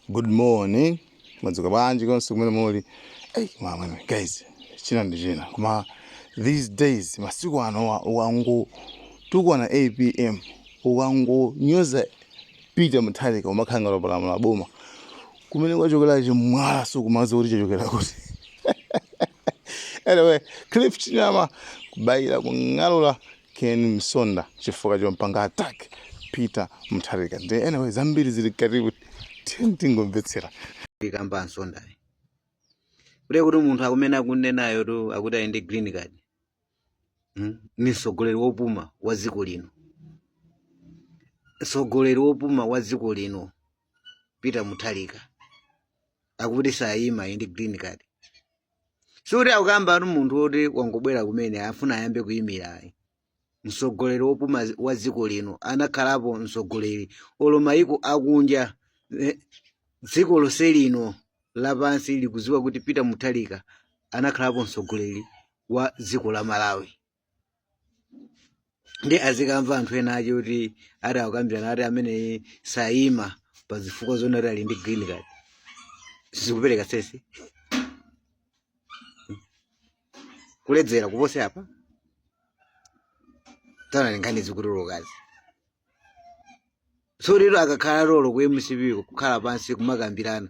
good morning madzuka bwanji konse kumene muli hey, mama guys china ndi china koma these days masiku anowa ukangotukwana apm ukangonyoza peter mutharika umakhala ngati wapalamula boma kumene wachokera chimwala sukumaziwa kuti chachokera kuti anyway cliff chinyama kubayira kung'alula Ken Msonda chifukwa chompanga attack Peter Mutharika nde anyway zambiri zili mkatimu tiyeni tingomvetsera. Kuyikamba a Msondayi kuti akuti munthu akumene akunenayotu akuti ali ndi green card hmm? ni mtsogoleri wopuma wa dziko lino, mtsogoleri wopuma wa dziko lino peter muthalika akuti sayima ali ndi green card sikuti akukambatu munthu woti wangobwera kumene afuna ayambe kuyimira ayi mtsogoleri wopuma wa dziko lino anakhalapo mtsogoleri olo mayiko akunja eh, dziko lonse lino lapansi likudziwa kuti peter muthalika anakhalapo mtsogoleri wa dziko la malawi nde azikamva anthu ena ache kuti ati akukambirana ati amene sayima pa zifukwa zonena kuti ali ndi green card sizikupereka sense kuledzera kupose apa taona nkhani zikutulukazi so lero akakhala olo ku mcp ko kukhala pansi kumakambirana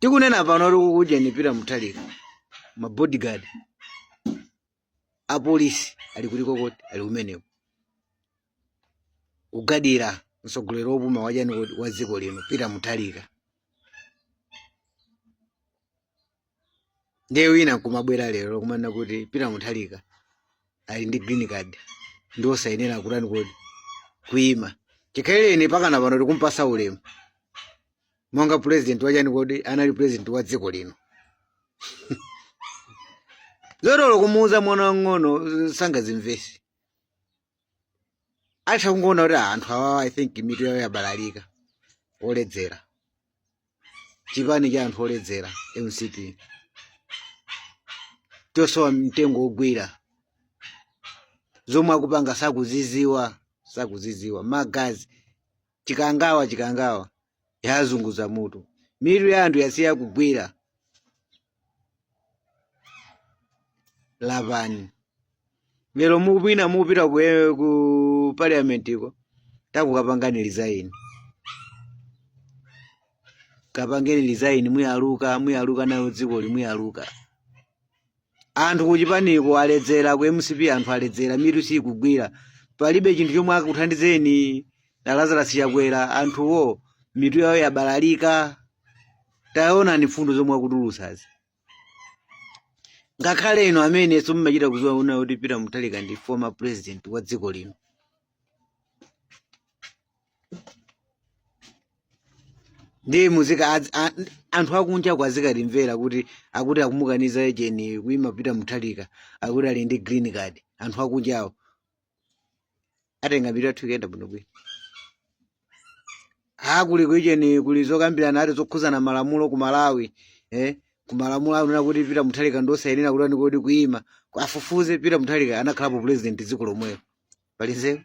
tikunena pano kuti kukuchani pita muthalika mabodyguard a polisi ali kuti kodi ali kumeneko kugadira mtsogoleri wopuma wachani kodi wa dziko lino pita muthalika ndiye wina nkumabwera lero kumanena kuti pita muthalika ali ndi green card ndi osayenera kutani kodi kuima chikhalirenicho mpakana pano tikumpasa ulemu monga president wachani kodi anali president wa dziko lino zoti olo kumuuza mwana wang'ono sangazimvesi atha kungoona kuti ah, anthu awawa i think mitu yawo yabalalika oledzera chipani cha anthu oledzera mcp chosowa mtengo wogwira zomwe akupanga sakuziziwa sakuziziwa magazi chikangawa chikangawa yazunguza mutu mitu ya anthu yasiya kugwira lapani lero mwina mupita ku, eh, ku parliament ko tangokapangani resign kapangeni resign muyaluka muyaluka nayo dzikoli muyaluka Anthu kuchipaniko aledzera ku mcp anthu aledzera mitu sikugwira palibe chinthu chomwe akuthandizeni a Lazarus Chakwera anthuwo mitu yawo yabalalika taonani mfundo zomwe akutulutsazi ngakhale inu amene somumachita kuziwa uona kuti Peter Mutharika ndi former president wa dziko lino ndi mzika adz- a- anthu akunja akazikatimvera kuti akuti akumukaniza ejeni kuima pita muthalika akuti ali ndi green card anthu akunjawo atiyesa mitu yathu ikuyenda bwinobwino ha kuli kuijeni kuli zokambirana ati zokhuzana malamulo ku malawi eh ku malamulo anena kuti pita muthalika ndiosayenera kutani kodi kuima afufuze pita muthalika anakhalapo president dziko lomwelo palinzeru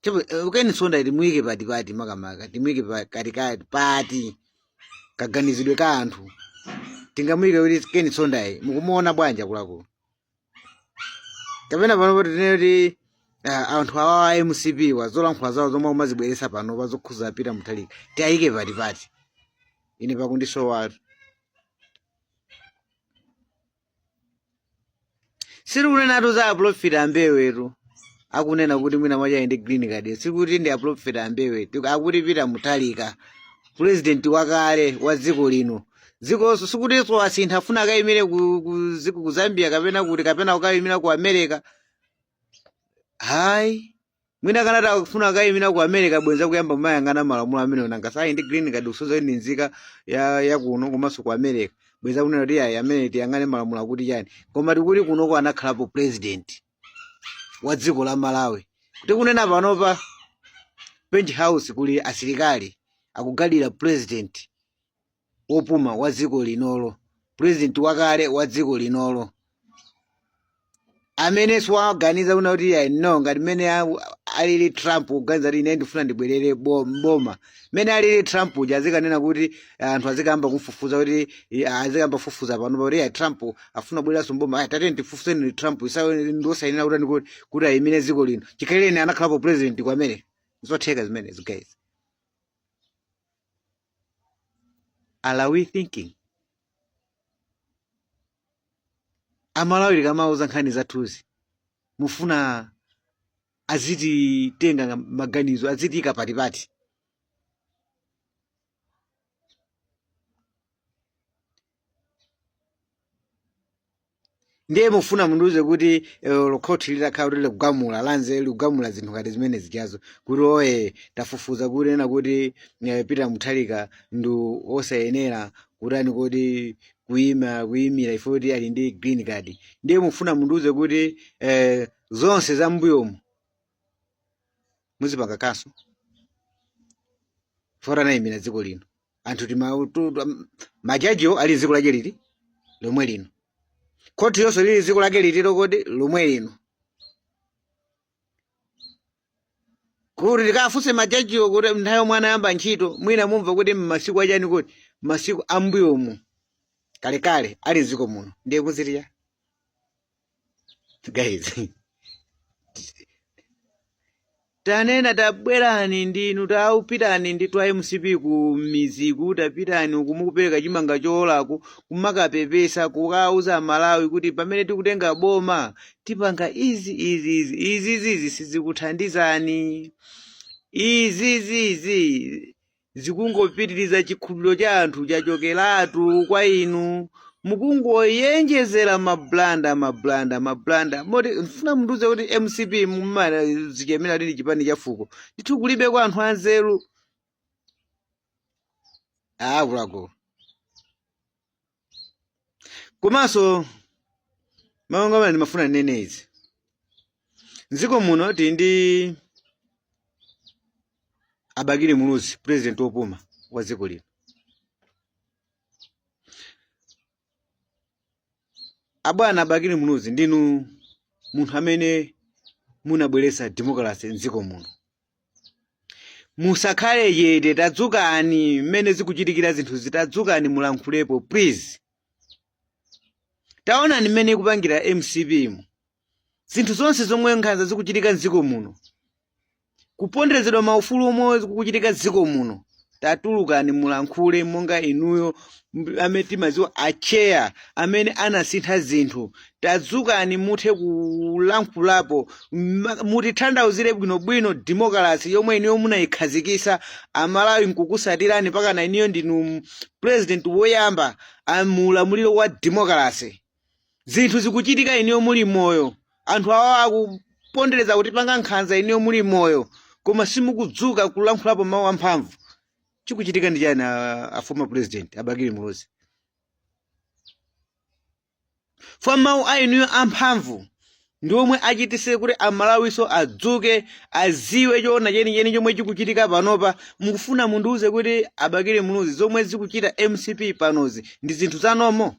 Chabwino, eh, keni nsonda timuike pati pati makamaka timuike pa- katikati pati kaganizidwe ka anthu tingamuike kuti keni nsondayu mukumuona bwanji akuluakulu kapena panopo tinene kuti ah, anthu awa a mcp wa zolankhula zawo zomwe amazibweresa panopa zokhuza apita muthalika tiayike pati pati ine pakundisowa sitikunenatu za aprofita ambewetu akunena kuti mwina mwachaje ndi green card sikuti ndi aprofita ambewe tiku- akuti pita muthalika purezidenti wakale wa dziko lino dzikonso sikutinso asintha afuna akayimire ku, ku, dziko- ku zambia kapena kuti kapena kukayimira ku america hayi mwina akanati akufuna kukayimira ku america bwenza kuyamba kumayang'ana malamulo amene nanga si ali ndi green card kusonyeza ndi nzika ya, ya kuno komanso ku america bwenza kunena kuti ayi amene tiyang'ane malamulo akuti chani koma tikuti kunoko anakhalapo president wa dziko la malawi kuti kunena panopa page house kuli asilikali akugadira president opuma wa dziko linolo president wakale wa dziko linolo amene siwaganiza uona kuti ya no ngati mmene a- alili trump kuganiza kuti ine ndifuna ndibwerere bo- mboma mmene alili trump uja azikanena kuti anthu azikayamba kumfufuza kuti i- azikayamba kufufuza panopa kuti ya trump afuna kubwereranso mboma ayi tatiyeni tifufuze trump isawe ndiosayenera kuti kuti kuti ayimire dziko lino chikhalireni anakhalapo president kwa america zotheka zimenezi guys are we thinking amalawi tikamauza nkhani zathuzi mufuna azititenga maganizo azitiika patipati ndiye mufuna mundiuze kuti eh, olo khoti litakhala kuti likugamula lanze likugamula zinthu ngati zimene zijazo kuti oye tafufuza kunena kuti eh, peter mutharika ndi osayenera kutani kuti kuima kuimira chifukwa choti ali ndi green card ndiye mufuna mundiuze kuti eh, zonse za mbuyomu muzipanga cancel poti anayimirira dziko lino anthu tima- tu- tu- majajiwo ali mdziko lake liti lomwe lino khoti lonse lili mdziko lake liti kodi lomwe lino kuti tikafunse majajiwo kuti nthawi yomwe anayamba ntchito mwina mumva kuti mmasiku achani kuti masiku ambuyomu kalekale ali mdziko muno ndiye kuzitiya guys tanena tabwerani ndinu tawapitani inu a mcp mmidzimu tapitani uku mukapereke chimanga choolacho kumakapepesa kukauza malawi kuti pamene tikutenga boma tipanga izi izi izi izizizi sizikuthandizani izizizi zikungopitiriza chikhulupiriro cha anthu chachokeratu kwa inu mukungoyenjezera mablanda mablanda mablanda moti mufuna mundiuze kuti mcp mumazichemera kuti ndi chipani cha fuko ndithu kulibe kwa anthu anzeru akuluakulu komanso mawu anga amene ndimafuna ndinene izi mdziko muno tili ndi abakili muluzi president wopuma wa dziko lino abwana abakili muluzi ndinu munthu amene munabweretsa democracy mdziko muno musakhale chete tadzukani mmene zikuchitikira zinthuzi tadzukani mulankhulepo please taonani mmene ikupangira mcp mu zinthu zonse zomwe nkhanza zikuchitika mdziko muno kuponderezedwa maufulu komwe kukuchitika mdziko muno tatulukani mulankhule monga inuyo mb- amene timadziwa acheya amene anasintha zinthu tadzukani muthe kulankhulapo mma- mutithandauzire bwinobwino demokalasi yomwe inuyo munayikhazikisa amalawi nkukusatirani mpakana inuyo ndinu m- president woyamba a- mu ulamuliro wa demokalasi zinthu zikuchitika inuyo muli moyo anthu awa akupondereza kutipanga nkhanza inuyo muli moyo koma simukudzuka kulankhulapo mawu amphamvu chikuchitika ndi chani a- a former president a bakili muluzi chifukwa mawu a inuyo amphamvu ndi omwe achitise kuti amalawiso adzuke aziwe choona chenicheni chomwe chikuchitika panopa mukufuna mundiuze kuti a bakili muluzi zomwe zikuchita mcp panozi ndi zinthu zanomo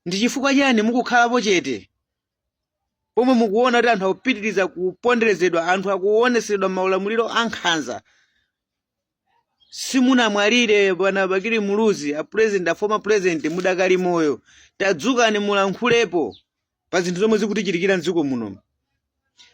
Ndi chifukwa chani mukukhalapo chete pomwe mukuona kuti anthu akupitiriza kuponderezedwa, anthu akuonetsedwa maulamuliro ankhanza? Simunamwalire bwana Bakili Muluzi, a president, a former president, mudakali moyo. Tadzukani mulankhulepo. pa zinthu zomwe zikutichitikira mdziko munomu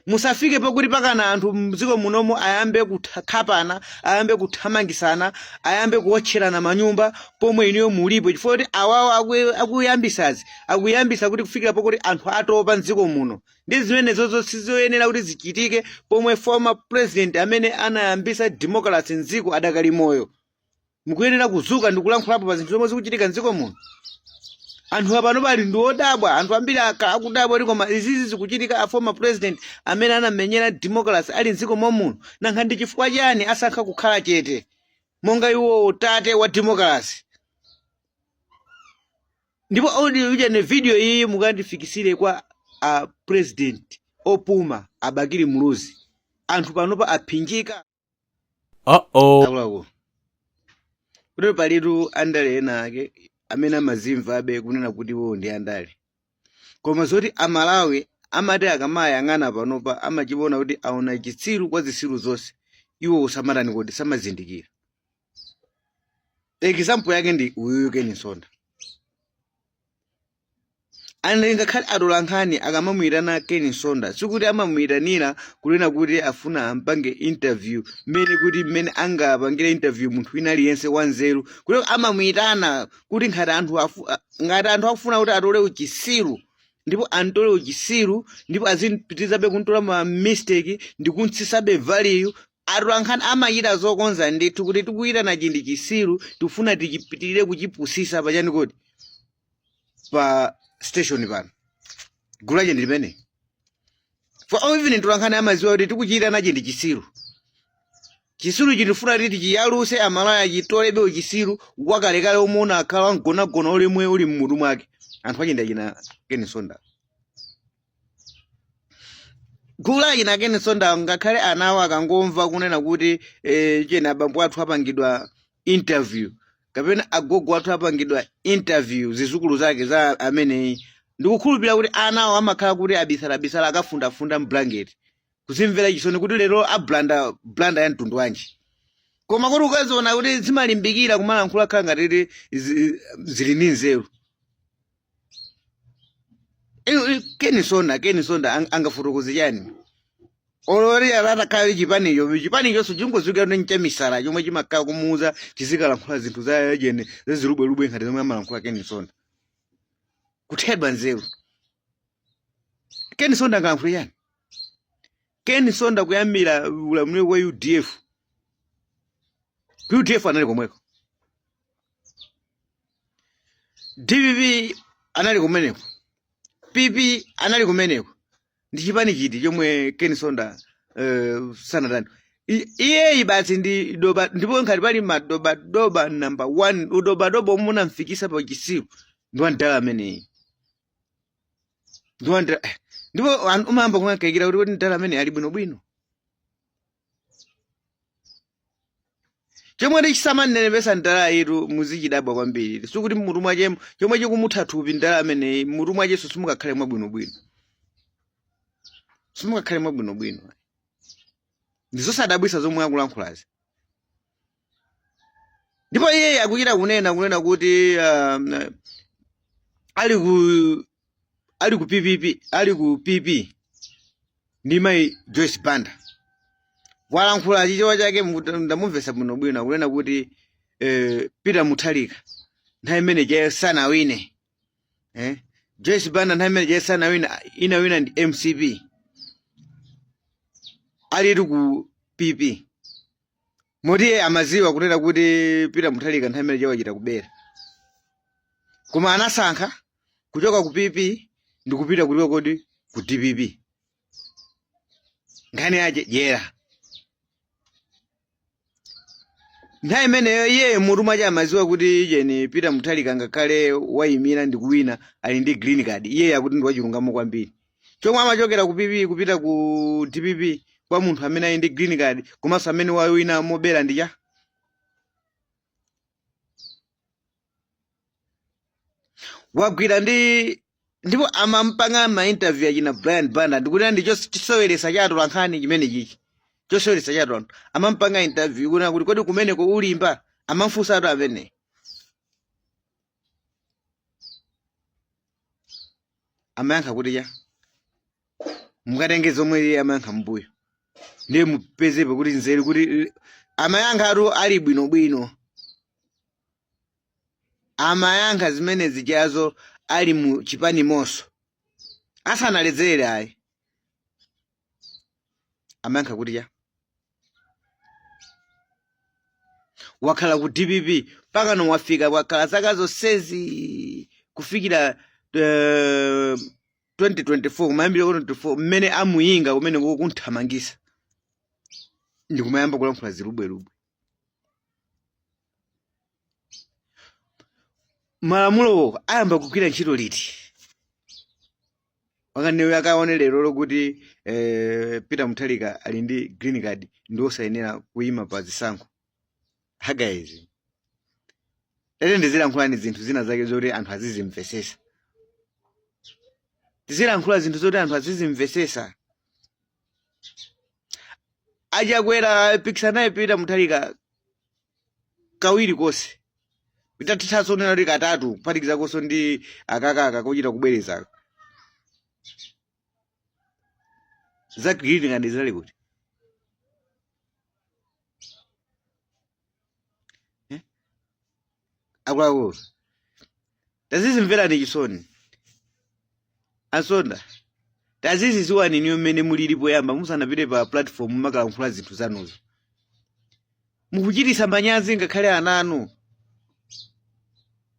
zisafike pakuti mpakana anthu mdziko munomu ayambe kukhapana ayambe kuthamangisana ayambe kuwotcherana manyumba pomwe inuyo mulipo chifukwa kuti awawo aku- akuyambisazi akuyambisa kuti kufikira pakuti anthu atopa mdziko muno ndi zimenezozo sizoyenera kuti zichitike pomwe former president amene anayambisa democracy mdziko adakali moyo mukuyenera kudzuka ndi kulankhulapo pa zinthu zomwe zikuchitika mdziko muno anthu apanopa ali ndi odabwa anthu ambiri aka- akudabwa kuti koma izizi zikuchitika a former president amene anamenyera democracy ali mdziko momuno nanga ndi chifukwa chani asankha kukhala chete monga iwo tate wa democracy ndipo audio ija ne video iyi mukandifikisire kwa a president opuma a bakili muluzi anthu panopa aphinjika Uh-oh. akuluakulu kutero palitu andale ena ake amene amazimvabe kunena kuti iwowo ndi andale koma zoti amalawi amati akamayang'ana panopa amachiona kuti aona chitsiru kwa zisiru zonse iwowo samatani kodi samazindikira example yake ndi uyuyu ken msonda and ngakhale atolankhani akamamuyitana ken msonda sikuti amamuyitanira kunena kuti afuna ampange interview mmene kuti mmene angapangire interview munthu wina aliyense wanzeru kuti amamuyitana kuti ngati anthu afu- a- ngati anthu akufuna kuti atole uchisiru ndipo antole uchisiru ndipo azipitirizabe kumtola ma mistake ndi kumtsisabe value atolankhani amachita kukonza ndithu kuti tikuyitana ichi ndi chisiru tikufuna tichipitirire kuchipusisa pachani kodi pa station pano gulu lache ndi limene for all even atolankhani amaziwa kuti tikuyitana ichi ndi chisiru chisiru ichi tifuna kuti tichiyaluse amalawi achitolebe uchisiru wakalekale omwe unakhala mgonagona ulimwe uli mmutu mwake anthu ache ndi achina ken msonda gulu la achina Ken Msonda ngakhale ana awo akangomva kunena kuti eh, cheni abambo athu apangidwa interview kapena agogo athu apangidwa interview zizukulu zake za ameneyi ndikukhulupirira kuti ana awo amakhala kuti abisalabisala akafundafunda mblanketi kuzimvera chisoni kuti lero ablunder blunder ya mtundu wanji koma kuti ukaziona kuti zimalimbikira kumalankhula khala ngati zi- zili ndi nzeru Inu- inu- Ken Msonda Ken Msonda ang- angafotokoze chani olo atakhala chipanicho chipanichonso chingoziwikira ndi chamisala chomwe chimakhala kumuuza chizikalankhula zinthu za jeni zazilubwelubwe ngati zomwe amalankhula Ken Msonda kuthedwa nzeru Ken Msonda angalankhule chani Ken Msonda kuyambira ulamuliro wa UDF. UDF anali komweko. DPP anali kumeneko. PP anali kumeneko. Ndi chipani chiti chomwe Ken Msonda uh, sanatani. Iye basi ndi doba ndipo ngati pali madobadoba number 1 udobadoba omwe unamfikisa pa chisiru ndi wa ndala ameneyi. ndipo ndira- eh, ndipo anthu umayamba kumakaikira kuti kuti ndala ameneyi ali bwinobwino chomwe chisamamnenepesa ndalayitu muzichidabwa kwambiri sikuti mmutu mwachemo chomwe chikumutha thupi ndala ameneyi mmutu mwacheso simukakhale mwabwinobwino simukakhale mwabwinobwino ndizosadabwisa zomwe akulankhulazi ndipo iye akuchita kunena kunena kuti um, ali ku ali ku PPP ali ku PP ndi mayi Joyce Banda walankhula chichewa chake mukuti- ndamumvesa bwino bwino akunena kuti eh, Peter Mutharika nthawi imene ije sanawine eh? Joyce Banda nthawi imene ije sanawine inawina ndi MCP alitu ku PP moti iye amaziwa kunena kuti Peter Mutharika nthawi imene ije wachita kubera koma anasankha kuchoka ku pp ndi kupita kuti kodi ku dpp nkhani yache dyera nthawi imeneyo iye mutu mwache amaziwa kuti jeni Peter Mutharika ngakhale wayimira ndi kuwina ali ndi green card iye akuti ndi wachilungamo kwambiri chomwe amachokera ku pp kupita ku dpp kwa munthu amene ali ndi green card komanso amene wawina mobera ndi cha wagwira ndi ndipo amampanga ma interview achina brian banda ndikuti ndi chos- choseweretsa cha atolankhani chimene chichi choseweretsa cha atolankhani amampanga interview kunena kuti kodi kumeneko ulimba amamfunsa anthu amene amayankha kuti cha mukatenge zomwe iye amayankha mmbuyo ndiye mupezepo kuti nzeru kuti amayankha atatu ali bwinobwino amayankha zimene zijazo ali mu chipani momo asanaledzere ayi amayankha kuti cha wakhala ku dpp pakano wafika wakhala zaka zonsezi kufikira 2024 kumayambiriro 2024 mmene amuinga kumene kukunthamangisa ndikumayamba kulankhula zilubwelubwe malamulowo ayamba kugwira ntchito liti akaniwe akaone lero lo kuti peter mutharika ali ndi green card ndi osayenera kuyima pa zisankho agaizi lete tizilankhulani zinthu zina zake zoti anthu azizimvesesa tizilankhula zinthu zoti anthu azizimvesesa achakwera apikisana naye peter mutharika kawiri konse titathanso kunena kuti katatu kuphatikiza konso ndi akakaka kochita kubwereza za green card zinali kuti akuluakulu tazidzimverani chisoni asonda tazidzidziwani inuyo mmene mulilipo poyamba musanapite pa platform mumakalankhula zinthu zanuzo mukuchitisa manyazi ngakhale ana anu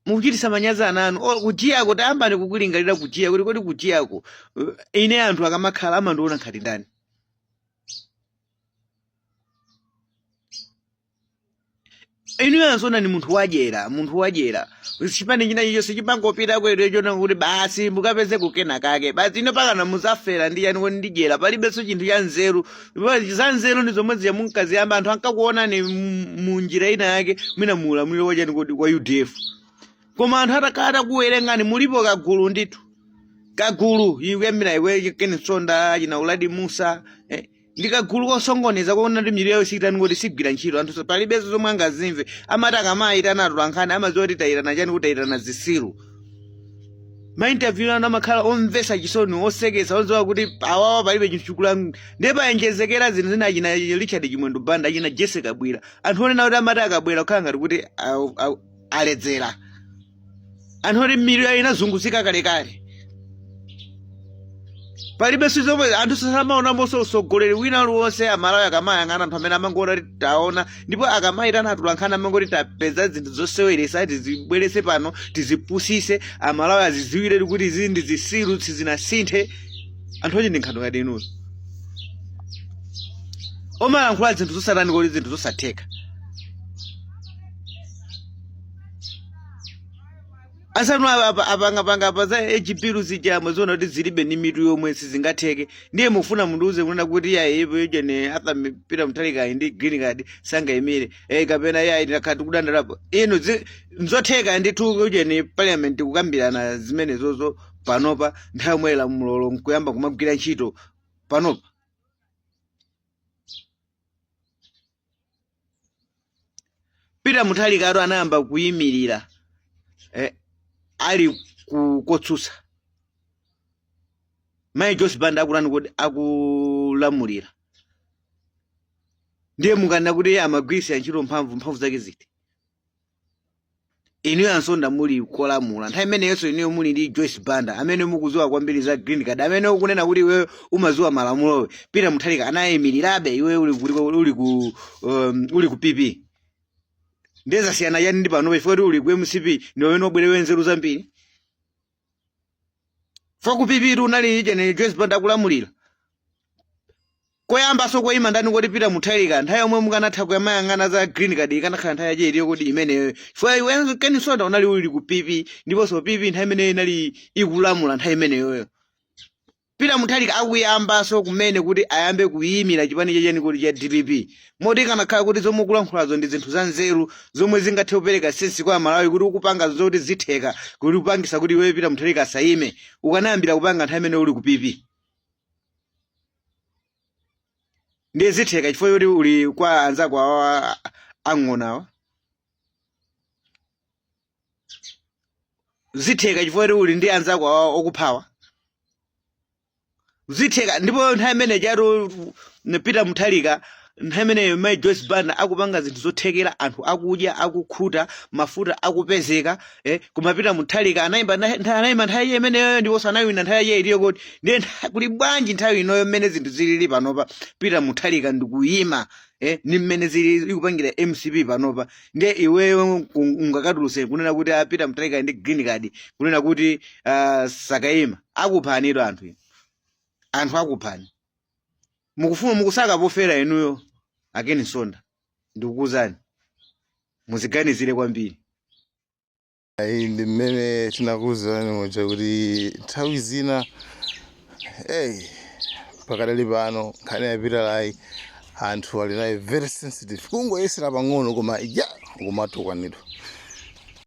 mukuchitisa manyazi ana anu kujiyako tayambani kulingalira kujiya kuti kodi kujiyako ine anthu akamakhala amandiona ngati ndani inuyo asonda ni munthu wadyera munthu wadyera chipani china chilichonse kumangopita kwele cholinga kuti basi mukapeze kenakake basi inu mpakana muzafera ndi yani koma ndi dyera palibenso chinthu cha nzeru za nzeru ndi zomwe zija munkaziyamba anthu ankakuonani mu- mu njira ina yake mwina mu ulamuliro wachani kodi wa udf koma anthu atakuwerengani mulipo kagulu ndithu kagulu kuyambira iwe keni sonda achina uladi musa eh, ndi kagulu kosongoneza kuona kuti mitu yawo siikutani kuti sigwira ntchito anthu palibenso zomwe angazimve amati akamayitana atolankhani amadziwa kuti tayitana chani kuti tayitana zitsiru mainterview anu amakhala omvesa chisoni osekesa odziwa kuti awawa palibe chinthu chikula ndiye paonjezekera zinthu zina achina richard chimwendo banda achina jessie kabwira anthu onena kuti amati akabwera kukhala ngati kuti au- au- aledzera anthu oti mitu yawo inazunguzika kalekale palibe sizomwe anthu samaonamonso usogoleri wina aliwonse amalawi akamayang'ana anthu amene amangoona kuti taona ndipo akamayitana atulankhana amangoti tapeza zinthu zoseweresa tizibwerese pano tizipusise amalawi aziziwire kuti izi ndi zisiru sizinasinthe anthu oti ndi nkhani ngati inuyo omalankhula zinthu zosatani kodi zinthu zosatheka asanu apa- apa- apangapanga apa za hpl zijamwe ziona kuti zilibe ni mitu yomwe sizingatheke ndiye mufuna mundiuze kunena kuti yayi ipo ijo ni atha mi- peter muthalika ali ndi green card sangayimire eh, kapena yayi takhala tikudandaulapo ino zi- nzotheka ndithu ijo ni parliament kukambirana zimenezozo panopa nthawi yomwe lamulolo nkuyamba kumagwira ntchito panopa peter muthalika atu anayamba kuyimirira eh, ali ku- kotsutsa mayi joyce banda akutani kodi akulamulira ndiye mukanena kuti iye amagwiritsa ntchito mphamvu mphamvu zake ziti inuyo a Msonda muli kolamula nthawi imeneyonso inuyo muli ndi joyce banda amene mukuziwa kwambiri za green card amene ukunena kuti iwe umaziwa malamulowe peter muthalika anayimirirabe iwe uli ku uli ku um, uli ku pp nde zasiyana chani ndi panopa chifukwa kuti uli ku mcp ndi pamene wabwera wanzeru zambiri fo ku pp unali ija ne joyce banda akulamulira koyambaso koyima ndani koti peter muthalika nthawi yomwe mukanatha kumayang'ana za green card ikanakhala nthawi yache itiyo kodi imeneyoyo chifukwa iwe keni msonda unali uli ku pp ndiponso pp nthawi imeneyo inali ikulamula nthawi imeneyoyo Peter Mutharika akuyambaso kumene kuti ayambe kuyimira chipani cha chani kodi cha dpp moti ikanakhala kuti zomwe ukulankhulazo ndi zinthu za nzeru zomwe zingathe kupereka sense kwa Amalawi kuti ukupanga zoti zitheka kuti upangisa kuti iweyo Peter Mutharika asayime ukanayambira kupanga nthawi imene uli ku PP ndiye zitheka chifukwa choti uli kwa anzako awa ang'onawa zitheka chifukwa kuti uli ndi anzako awa akuphawa zitheka ndipo nthawi imene ijatu peter muthalika nthawi imeneyo mai joyce banda akupanga zinthu zothekera anthu akudya akukhuta mafuta akupezeka eh, koma peter muthalika anayimba ntha- ntha- anayima nthawi imeneyo ndiponso anawina nthawi iye itiyo kodi ndiye ntha- kuli bwanji nthawi inoyo mmene zinthu zilili panopa peter muthalika ndikuyima eh, ni mmene zili ikupangira mcp panopa nde iweyo ungakatuluse kunena kuti a peter muthalika ndi green card kunena kuti uh, sakayima akuphanitu anthu inu. anthu akuphani mukufuna mukusaka pofera inuyo a keni msonda ndikukuuzani muziganizire kwambiri Ayi ndi mmene tinakuwuzirani muja kuti nthawi zina hey, pakadali pano nkhani ya fetelaiza anthu ali nayo very sensitive kungoyesera pang'ono koma ya kumatukwanidwa